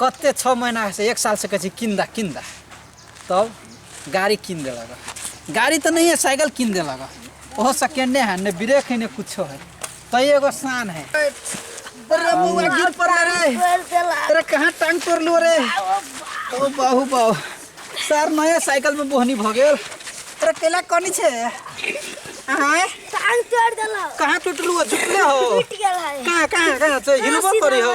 कते छओ महीनासँ एक सालसँ कहै छै किन दा किन दा तब गाड़ी किन देलक गाड़ी तऽ नहिए साइकिल किन देलक ओहो सेकेंडे हैंड ने ब्रेक है ने कुछो है तो एगो शान है अरे बउआ गिर पड़ल रे अरे कहाँ टांग तोड़लू रे ओ बाहू बाहू सर नया साइकिल में बोहनी भऽ गेल अरे केला कनी छै आँय टांग तोड़ देलक कहाँ टूटलू हो झुकले हो टूट गेल है कहाँ कहाँ कहाँ से हिलबो करी हो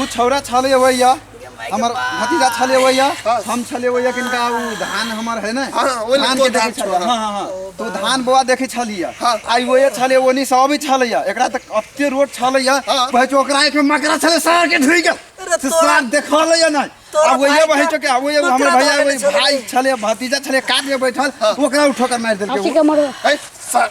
ऊ छौरा छले हुए या हमर भतीजा छले हुए या हम छले हुए या किनका ऊ धान हमर है ना हाँ, हाँ, ओहि धान लड़को के धान देखे छले छोड़ा। हां हां हां तो धान बोआ देखे छलिया हाँ। आई ओए छले ओनी सब ही छलैया एकरा तक अत्ते रोड छलैया हाँ। बहच ओकरा एक में मकरा छले सार के ढुई गया अरे से तोरा- सार देखलैया ना तोरा अब ओए भाई बहच का- के अब ओए तू हमर तोरा भैया भाई ओए के छलैया। भाई छले भतीजा छले काट के बैठल ओकरा उठो कर मार देलके हंसी के मरो है सर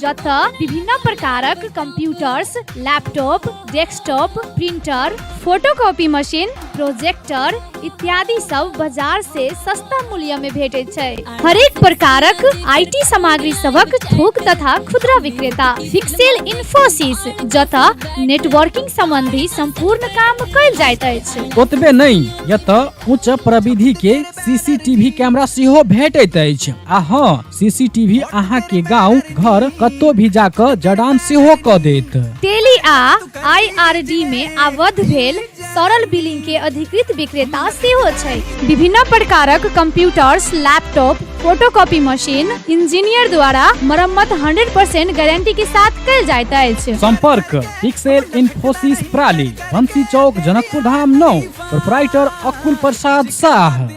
जतय विभिन्न प्रकारक computers laptop desktop printer photocopy machine projector इत्यादि सब बाजार से सस्ता मूल्य में भेटैत छै हरेक प्रकारक आईटी सामग्री सबक थोक तथा खुदरा विक्रेता फिक्सेल इन्फोसिस जतय नेटवर्किंग संबंधी संपूर्ण काम कयल जाइत अछि ओतबे नहि एतऽ उच्च प्रविधि के सीसीटीवी कैमरा सेहो भेटैत अछि आ हँ सीसीटीवी अहाँ के गांव घर कत्तो भी जाकर जडान सेहो क देत टेली आ आईआरडी मे आबद्ध भेल सरल बिलिंग के अधिकृत विक्रेता सेहो छै विभिन्न प्रकारक computers laptop photocopy machine engineer द्वारा मरम्मत 100% गारंटी के साथ कल जाइत अछि संपर्क पिक्सेल इन्फोसिस प्राली बंसी चौक जनकपुर धाम नौ प्रोपराइटर अकुल प्रसाद शाह